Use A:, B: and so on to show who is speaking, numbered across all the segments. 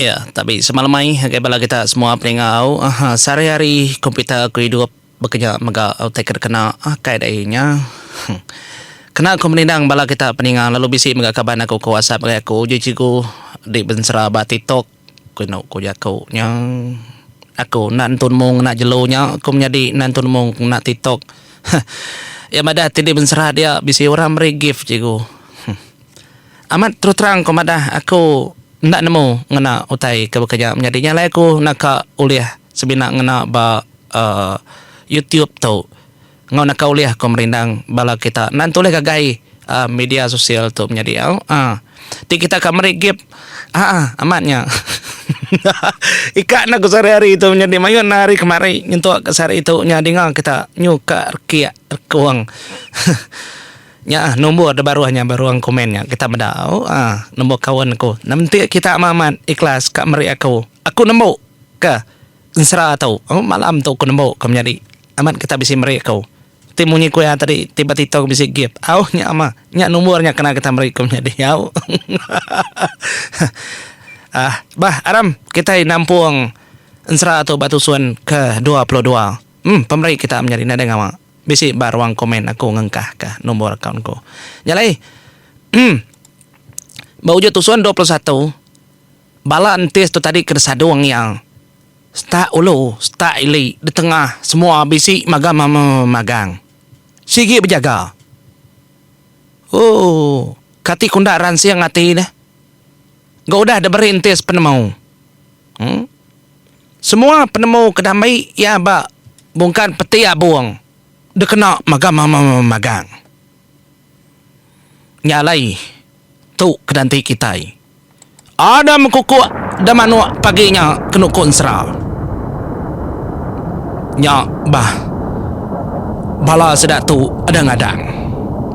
A: Ya, tabi semalamai ngagai bala kita semua peninga au, sehari-hari komputer aku idup baka nya mega utai ke dikena. Kai dai nya. Kena aku menindang bala kita peninga lalu bisi mega kaban aku ke whatsapp ngagai aku uji cikgu di bensera ba tiktok ku inu ku jaku nya. Aku enda nentu nemu ngena jelu nya, aku menyadi enda nentu nemu ngena tiktok. Iya madah ti di bensera dia bisi orang meri gift cikgu. Amat terus terang ko madah aku enda nemu ngena utai ke baka nya menyadi nya alai aku naka ulih semina ngena ba YouTube tu enggau naka ulih ko merindang bala kita enda tulih ngagai media sosial tu menyadi au ti kita ka meri gip aa amat nya ika enda ko sehari hari tu menyadi maioh enda hari kemari nyentuk ka sehari tu nya dinga kita nyu ka rikik rekong. Nya ah nombor da baruh nya ba ruang komen nya kita meda ah nombor kawan aku. Nementi kita ama amat ikhlas ka meri aku. Aku nembu ka ensera tu. Oh malam tu aku nembu ka menyadi. Amat kita bisi meri aku. Ti munyi ku iya tadi ti ba TikTok bisi gift. Au nya mah. Nya nombor nya kena kita meri ku menyadi au. ah bah aram kitai nampung ensera tu ba tusun ke dua puluh dua. Em pemeri kita menyadi nadai ngawa. Bisi ba ruang komen aku ngengkah ka nombor akaun ku. Nya alai emm ba ujut tusun dua puluh satu bala entis tu tadi ke disadung iya setak ulu setak ili ditengah semua bisi magang mama magang sigi bejaga ooh kati kunda ransing ati deh ga udah diberi entis penemu. Semua penemu ke diambi iya ba bungkan peti abung dikena magang-magang. Nya alai tu kedanti kitai. Ada mekukuk da manuk pagi nya ke nuku ensera. Nya bah bala sida tu ada ngadang,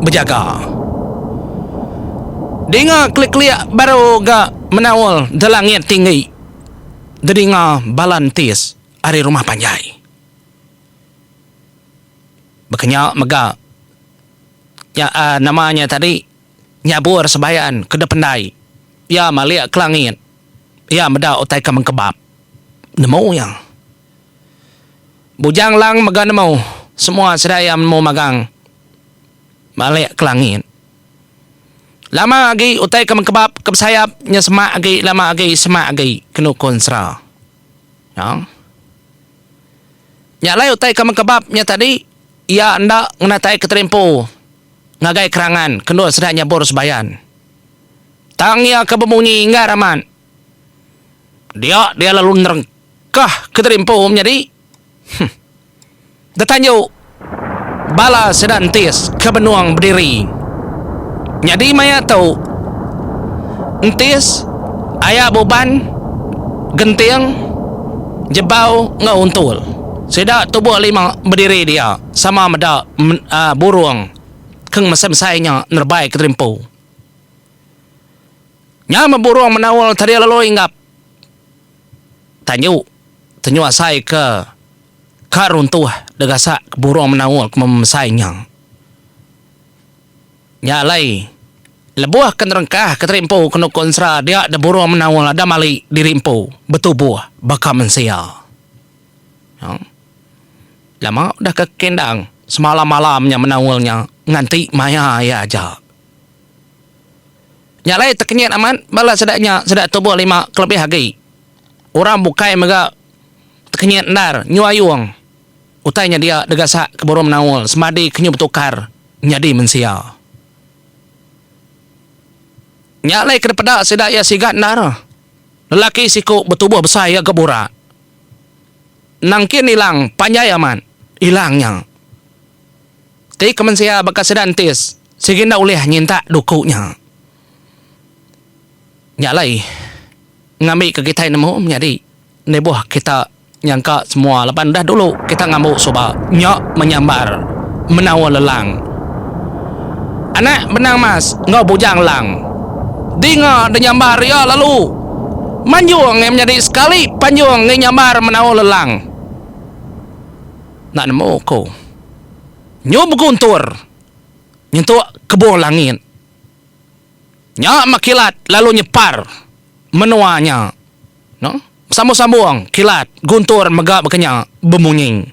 A: bejaga. Dinga kelik-kelik baru ga. Menaul da langit tinggi, dedinga bala entis ari rumah panjai. Baka nya mega nya uhh nama nya tadi nyabur sebayan ke da pendai iya malik ke langit iya meda utai ke mengkebap nemu iya. Bujang lang mega nemu semua sida iya nemu magang malik ke langit. Lama agi utai ke mengkebap ke besayap nya semak agi lama agi semak agi ke nukun sera. Nya. Nya alai utai ke mengkebap nya tadi iya enda ngenatai keterimpu ngagai kerangan ke endur sida nyabur sebayan. Tang iya ke bemunyi enggar amat. Dia dia lalu nerengka kah ke tadi empu menyadi. Huh. Da tanju bala sida entis ke benung bediri. Nyadi maya tu entis aya buban genting jebau enggau untul. Sida tubuh lima bediri dia sama meda burung ke ngemesai-mesai nya nerebai ke tadi empu. Nya meh burung menaul tadi lalu inggap tanyu tenyuasai ke ka runtuh degasak ke burung menaul ke memesai nya. Nya alai lebuh ke nerengkah ke terimpu ke nuku ensera dia de burung menaul ada mali diri empu betubuh baka mensia. Au. Lama udah ke kendang semalam-malam nya menaul nya nganti maya iya aja. Nya alai tekenyit amat bala sida nya sida tubuh lima kelebih agi orang bukai mega tekenyit endar nyu ayung utai nya dia degasak ke Burung Menaul semadi ke nyu betukar nyadi mensia. Nya alai ke dipeda sida iya sigat endar lelaki siku betubuh besai iya ga burak nangkin ilang panjai amat ilang nya. Ti ke mensia baka sida entis, sigi enda ulih nyintak duku nya. Nya alai ngambika kitai nemu menyadi lebuh kita nyangka semua laban udah dulu kita ngambu suba nya menyambar menawa lelang. Anak benang mas enggau bujang lang dinga denyambar iya lalu manjung ngai menyadi sekali panjung ngai nyambar menawa lelang. Enda nemu ku. Nyu beguntur nyentuk kebung langit nya meh kilat lalu nyepar menua nya no besambung-sambung kilat guntur mega bekenya bemunyi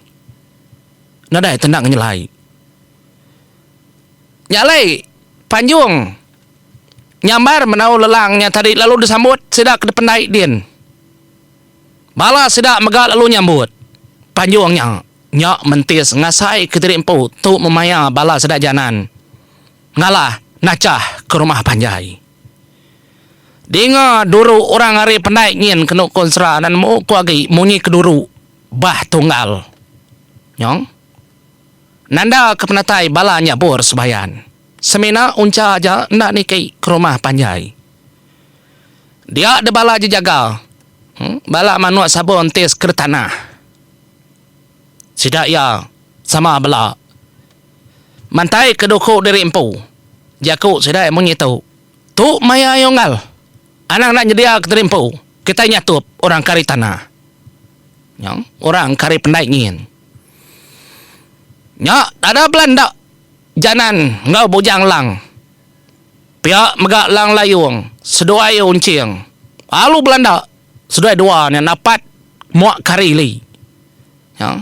A: nadai tendang nyelai nya alai panjung nyambar menau lelang nya tadi lalu disambut sida ke dipendai din bala sida mega lalu nyambut panjung nya. Nya mentis ngasai kediri empu tu memaya bala seda janan ngalah nachah ke rumah panjai. Dinga duru orang ari pendai nyin kenu konsra nan mbu ko agi munyi ke duru bah tunggal. Nyong. Nanda ke penatai bala nyabur sebayan. Semina uncha aja enda niki ke rumah panjai. Dia de bala je jaga. Bala manuk sabur entis ke de tanah. Sida iya sama bela. Mantai ke duku diri empu. Jaku sida munyi tu. Tu maya iya unggal. Anang enda nyedia ke diri empu. Kitai nyatup orang ke ari tanah. Nya orang ke ari pendai nyin. Nya dada bela enda Janan enggau Bujang Lang. Pia mega Lang Layong seduai iya unching. Alu Belanda. Seduai dua nya dapat mua kari li. Nya.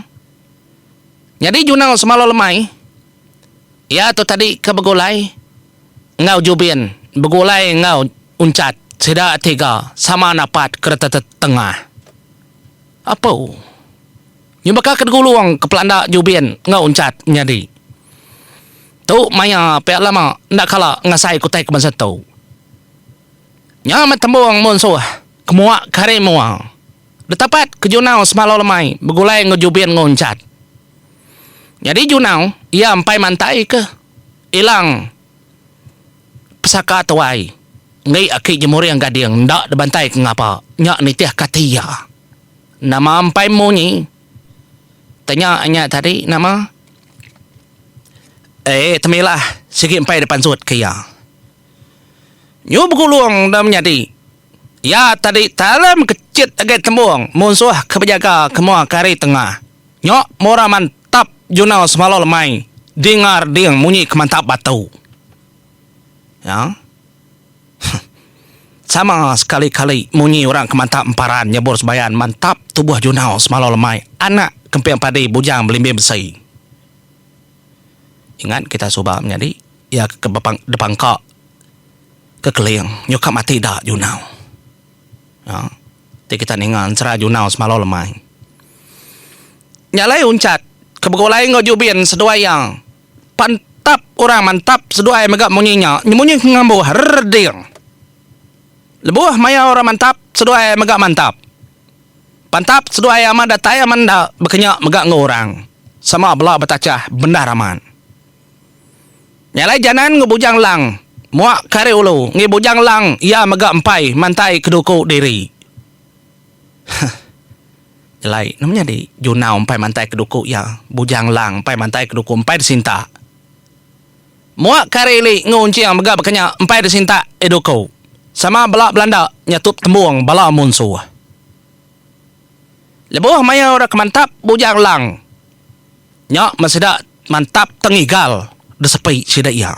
A: Nyadi jurnal semalau lemai iya tu tadi ke begulai enggau Jubin begulai enggau Unchat sida tiga sama dapat keretetet tengah. Apu. Nya baka ke degulung ke pelanda Jubin enggau Unchat nyadi. Tu maya pia lama enda kala ngasai ke utai ke bansa tu. Nya meh tembung munsuh ke mua ke hari mua. Detapat ke Junau semalau lemai begulai enggau Jubin enggau Encat. Nyadi Junau iya empai mantai ke Ilang Pesaka Tuai enggai aki Jemuring Gading enda dibantai ke ngapa. Nya nitih ke ati iya. Nama empai munyi tanya nya tadi nama eh Temilah sigi empai dipansut ke iya. Nyu begulung enda menyadi. Iya tadi talam kechit agai tembung munsuh ke bejaga ke mua ke hari tengah. Nya mura mantap juna semalau lemai dingar ding munyi ke mantap batu. Nya huh sama sekali-kali munyi orang ke mantap emparan nyebur sembayan mantap tubuh juna semalau lemai anak kemping padi bujang belimbing besi. Ingat kita suba menyadi. Iya ke bepang depangka ke Keling nyuka mati da Junau. Nya ti kita ninga ensera Junau semalau lemai. Nya alai Unchat ke begulai enggau Jubin seduai iya pan tap orang mantap seduai mega munyi nya nyemunyi ke ngambuh rrr ding. Lebuh maya orang mantap seduai mega mantap. Pan tap seduai amat datai amat enda bekenya mega enggau orang sama bela betachah bendar amat. Nya alai Janan enggau Bujang Lang muak kari ulu ngi Bujang Lang iya mega empai mantai keduku diri. Huh. Nyelai nama nyadi Junau empai mantai keduku iya, Bujang Lang empai mantai keduku empai disinta. Muak kari ili enggau unching mega baka nya empai disinta eh duku. Sama bela belanda nyatup tembung bala munsuh. Lebuh maya ora ke mantap Bujang Lang. Nya meh sida mantap tang igal disepi sida iya.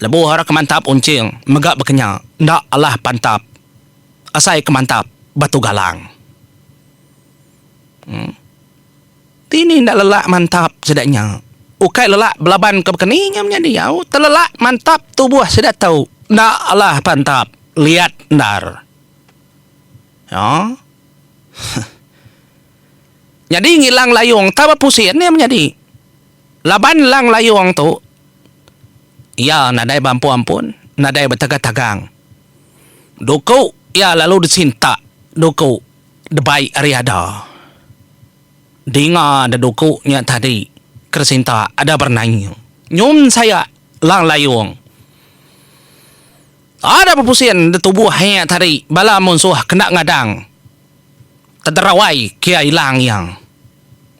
A: Lebuh orang ke mantap uncing mega bekenya enda alah pantap asai ke mantap batu galang. Em. Dini enda lelak mantap sida nya. Ukai lelak belaban ke baka ni nya menya diau, telelak mantap tubuh sida tu enda alah pantap liat endar. Nya. Huh. Nyadi ngilang layung tau bepusin iya menyadi. Laban lang layung tu iya nadai beampun-ampun, nadai betagang-tagang. Duku iya lalu disintak duku debai ari ada. Dinga da duku nya tadi ke disintak ada berenai iya. Nyun saya lang layung. Ada bepusin da tubuh iya tadi bala munsuh kena ngadang. Tedera wai kia ila ngiang.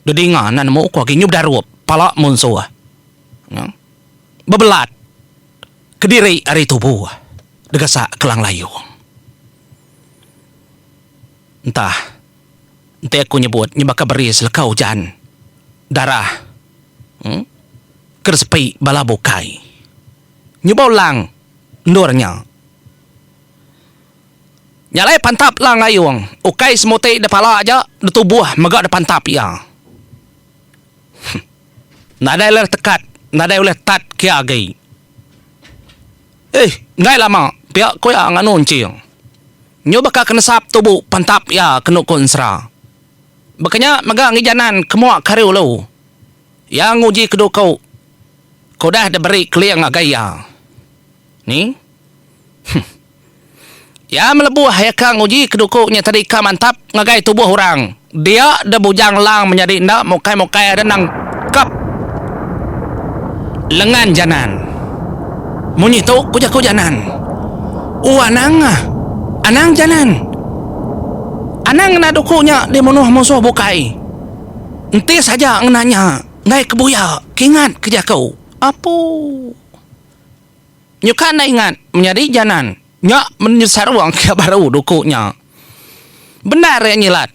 A: Dedinga enda nemu ko agi nyu bedarup pala munsuh. Bebelat kediri ari tubu degesa Kelang Layong. Entah enti aku nyebut nyu baka beri seleka ujan darah uhh ke disepi bala bukai nyuba ulang endur nya. Nya alai pantap Lang Ayong, ukai semuti da pala aja, da tubuh mega da pantap iya. Huh. Nadai ulih tekat, nadai ulih tat kia agi. Ih, enggai lama pia ku iya nganu enching. Nyu baka ke nesap tubu pantap iya kenu ku ensera. Baka nya mega ngi janan kemua ke hari ulu, iya nguji ke duku ke udah diberi keling ngagai iya. Ni. Huh. Iya melebuh iya ka nguji keduku nya tadi ka mantap ngagai tubuh orang. Dia deh bujang lang menyadi enda mukai-mukai ada nangkap lengan Janan. Munyi tu ku jaku Janan. Uh anang ah. Anang Janan. Anang ngena duku nya dimunuh musuh bukai. Entis aja ngena nya enggai ke buya. Kingat ke jaku. Apuh. Nyuka enda ingat menyadi janan nya menyadi sarung ke baru duku nya. Bendar nya nyilat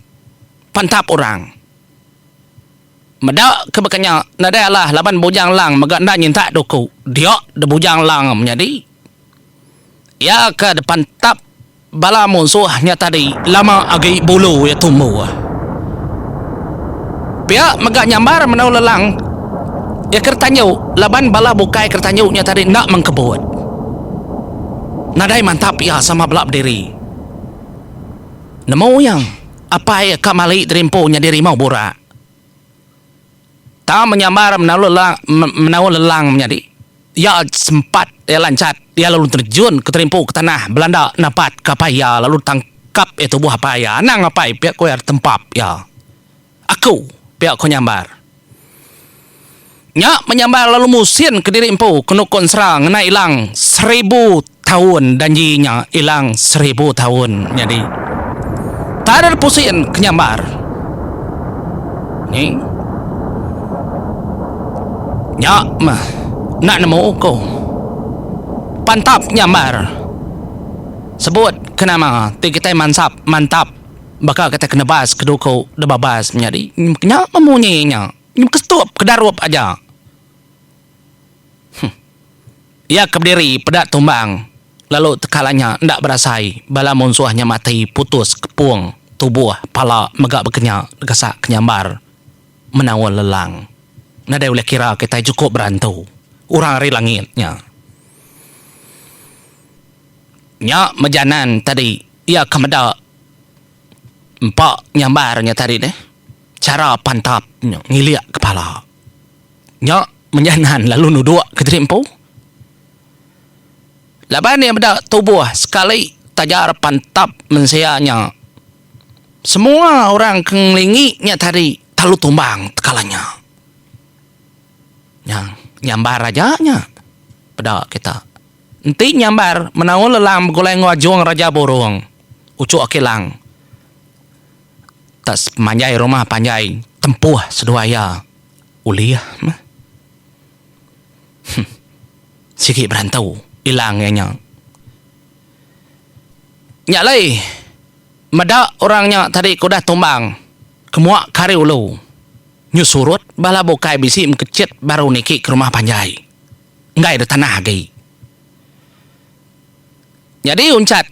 A: pantap orang. Meda ke baka nya nadai alah laban Bujang Lang mega enda nyintak duku dia da Bujang Lang menyadi. Iya ke dipantap. Bala munsuh nya tadi lama agi bulu iya tumbuh. Pia mega nyambar Menua Lelang iya Keretanyu laban bala bukai Keretanyu nya tadi enda mengkebut. Nadai mantap iya sama bela bediri. Nemu iya, apai iya ka mali diri empu nyadi rimau burak. Tang menyambar menaul lelang menaul lelang menyadi iya sempat iya lanchat iya lalu terjun ke terimpu ke tanah belanda napat ke apai iya lalu tangkap iya tubuh apai iya anang apai pia ko iya tempap iya aku pia ko nyambar nya menyambar lalu musin kediri empu ke nuko ensera ngena ilang seribu Taun danji nya ilang seribu taun nyadi tader pusin ke nyambar ni nya meh enda nemu ku pantap nyambar sebut ke nama ti kitai mansap mantap baka kitai ke nebas ke duku da babas menyadi nya meh munyi nya kestup ke darup aja. Iya ke bediri peda tumbang lalu teka lanya enda berasai bala munsuh nya mati putus kepung tubuh pala mega bekenya degesak ke nyambar menaul lelang. Nadai ulih kira kitai chukup berantu orang ari langit nya. Nya mejanan tadi iya ke meda empa nyambar nya tadi deh chara pantap nya ngilik kepala Nya mejah Nan lalu nuduk kediri empu. Laban iya meda tubuh sekali tajar pantap mensia nya. Semua orang ke ngelingi nya tadi talu tumbang tekala nya. Nya nyambar aja nya peda kita. Enti nyambar menaul lelang begulai enggau ajung Raja Burung, Ucuk Kilang tak sepemanjai rumah panjai tempuh seduai iya. Ulih meh. Huh. Sigi berantau ilang iya nya. Nya alai meda orang nya tadi ke udah tumbang ke mua ke ari ulu nyu surut bala bukai bisi mekechet baru niki ke rumah panjai. Enggai ada tanah agi. Nyadi unchat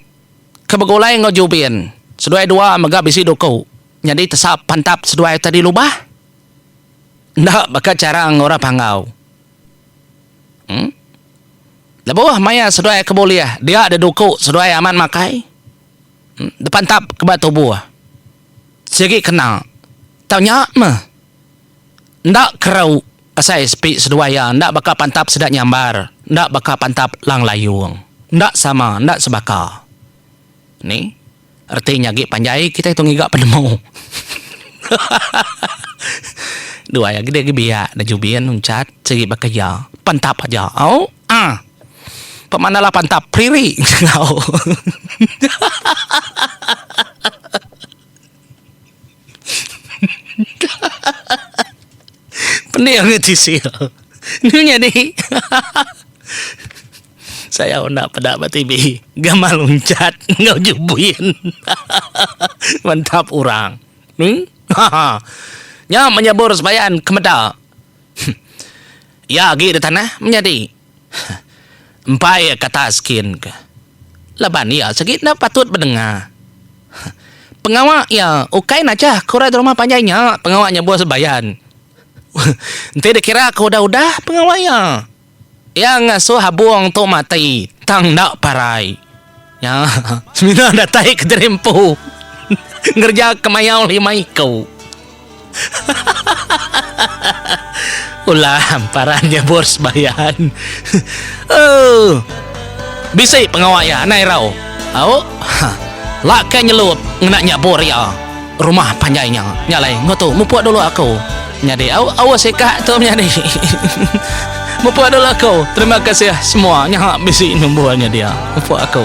A: ke begulai enggau Jubin seduai dua mega bisi duku nyadi tesa pantap seduai tadi lubah. Enda baka chara orang Panggau. Em. Lebuh maya seduai ke bulih, dia deduku seduai amat makai. Em. Depantap ke ba tubuh. Sigi kena. Tau nya meh. Enda kerau asai sepi seduai iya. Enda baka pantap sida nyambar. Enda baka pantap Lang Layong. Enda sama, enda sebaka. Ni. Reti nya agi panjai kitai tu ngiga penemu. Duai agi deh biak da Jubin Uncat sigi ba keja. Pantap aja. Auh. Pemandala pantap priri enggau. Pening angai tisi tu. Enu nyadi? Sayau enda peda ba TV. Gamal loncat enggau jubin. Mantap orang. Ning? Nya menyebur sebayan ke meda. Iya agi di tanah menyadi. Huh. Empai iya kata Askin ke. Laban iya sigi enda patut bedenga. Huh. Pengawa iya ukai najah ke orang di rumah panjai nya pengawa nyebuh sebayan. Huh. Enti dikira ke udah-udah pengawa iya. Iya ngasuh Abong tu mati tang enda parai. Nya, semina datai ke diri empu ngereja kemayau lima iku. Ulam paran nyebur sembayan. Uh. Bisi pengawa iya, anai rau. Au. Laka nyelut ngena nyebur iya. Rumah panjai nya. Nya alai. Enggau tu. Mupuk dulu aku. Nyadi. Au. Au sikak tu menyadi. Mupuk dulu aku. Terima kasih semua. Nya bisi number nya dia. Mupuk aku.